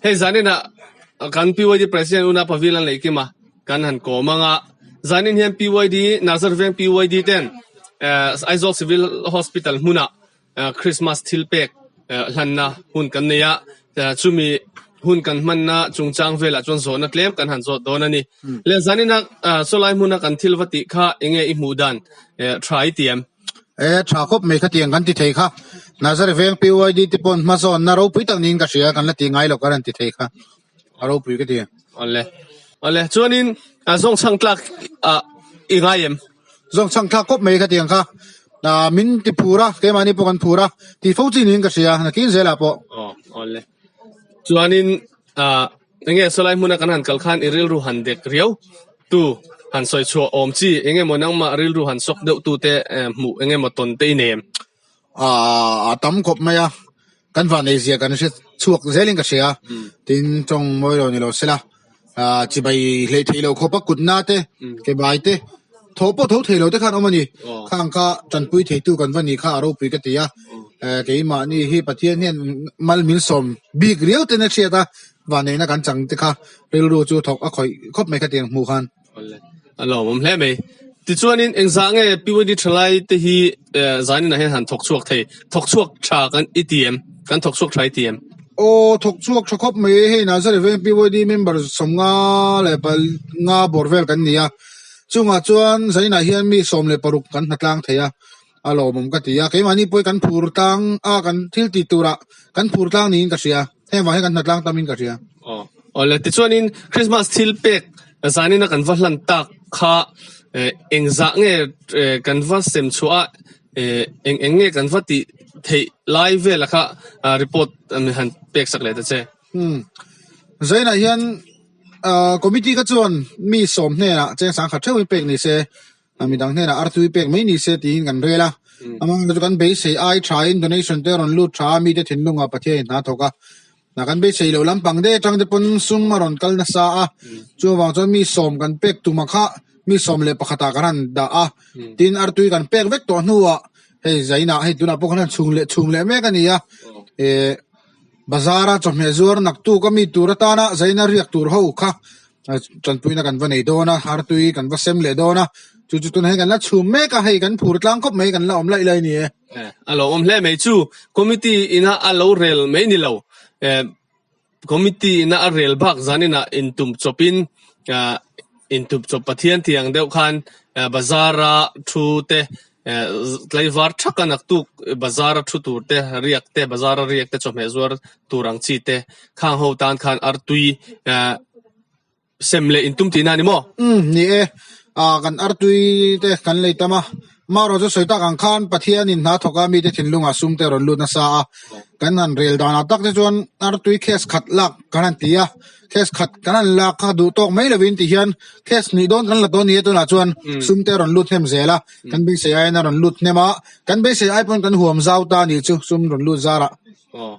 Hei zanin ah kan PYD President Una Pavilan Leikima kan han kawm ang a. Zanin hian PYD, Nazar Veng PYD ten Aizawl Civil Hospital hmunah Christmas thilpek hlanna hun kan nei a. Chumi hun kan hmanna chungchang vel ah chuan zawhna tlem kan han zawt dawn a ni. Le zanin ah chawlai hmuna kan thil va tih kha enge i hmuh dan tha i ti em? e tha khawp mai kha tiang kan ti thei kha nazari veng pyid te pawn hma zawn na ropui tak niin ka hria kan la ti ngai lo ka ra'n ti thei kha a ropui ka ti awle awle chuanin a zawng chhang tlak a i ngai em zawng chhang tlak khawp mai kha tiang kha a min ti phur a keimahni pawh kan phur a ti fo chi niin ka hria nakin zela pawh awle chuanin a Eng nge saw lai hmun a kan han kal khan i rilru han dek riau tu han sawi chhuah awm chi? Eng emaw nangmah rilru han sawk deuh tu te hmuh eng emaw tawn te i nem? Aa, a tam kawp mai a, kan vanei zia kan hre chhuak zel in ka hria, tin tawng mawi lo ni lo sela, chibai hleih theih lo khawpa kutna te, kebai te, Tho pawh tho thei lo te khan awm a ni. Khang kha tanpui theitu kan va ni kha a ropui ka ti a. Keimahni hi Pathian hian malmin sawm bik riau ten a hriat a, vanneihna kan chang te kha rilru chu thawk a khawih khawp mai kha ti ang hmuh khan. A lo awm hle mai. Tichuanin engzah nge Piwani thalai te hi zaninah hian han thawk chhuak thei? Thawk chhuak tha kan i ti em? Kan thawk chhuak tha i ti em? Aw, thawk chhuak tha khawp mai e. Hei nasa reveng Piwani member sawm nga leh pal nga bawr vel kan ni a. Chungah chuan Zainah hian mi sawm leh paruk kan hna tlang thei a, a lawmawm ka ti a, keimahni pawhin kan phur tlang a, kan thil tih turah kan phur tlang niin ka hria, heng vang hian kan hna tlang tamin ka hria. Aw le, tichuanin Krismas thil pek zanin a kan va hlan tak kha eng zah nge kan va sem chhuah a, eng eng nge kan va tih theih lai vel a kha report an han peksak leh ta che. Umm zainah hian ahh committee kha chuan mi sawm hnenah cheng sang khat theuhin pek ni se a midang hnenah ar tui pek mai ni se tiin kan rel a amang te chu kan beisei ai thain donation te a rawn lut tha a mite thinlungah pathian in hna thawk a ah kan beisei loh lampang deuh atang te pawn sum a rawn kal nasa a chuan vang chuan mi sawm kan pek tuma kha mi sawm leh pakhatah kan han dah a tin ar tui kan pek vek tawh hnuah hei zainah hei tunah pawh kan han chhung leh chhung leh mek a ni a ehh. bazar a chawhmeh zuar nak tu ka mi tur atana zaina riak tur ho kha tanpuina kan va nei dawn a har tui kan va sem leh dawn a chu chu tunah hian kan la chhum mek a hei kan phur tlang khawp mai kan la awm laih laih a ni e eh, a lo awm hle mai chu committee ina a lo rel mai ni lo eh, committee ina a rel bak zanina in tum chopin eh, in tum chop pathian tiang deuh khan eh, bazara thu te Tlaivar thak a naktuk bazar a thu tur te, riak te, bazar a riak te chawhmeh zuar tur ang chi te khang ho tan khan artui sem leh in tum ti na ni maw? Umm, ni e. Aa, kan artui te kan lei tam a. Marawh chu sawi tak ang khan Pathian in hna thawk a mite thinlung ah sum te rawn lut nasa a. Kan han rel dan ah tak te chuan artui case khat lak kan han ti a. test khat kan han lak kha duh tawk mai lovin ti hian test hnih dawn kan la dawn nia tunah chuan sum te a rawn lut hnem zel a kan beisei aiin a rawn lut hnem a kan beisei ai pawn kan huam zau ta a nih chu sum rawn lut zar ah Aw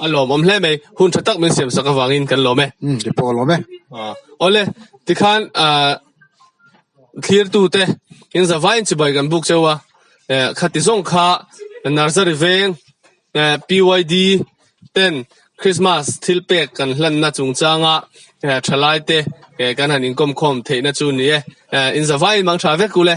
a lawm awm hle mai hun tha tak min siam sak avangin kan lawm e ti pawh lawm e awle tikhan thlir tu te in zavaiin chibai kan buk cheu a khati zawng kha nursery veng PYD, Ten, Krismas thil pek kan hlanna chungchanga thalaite kan han inkawmkhawm theihna chu a ni e. In zavai in mang tha vek u le.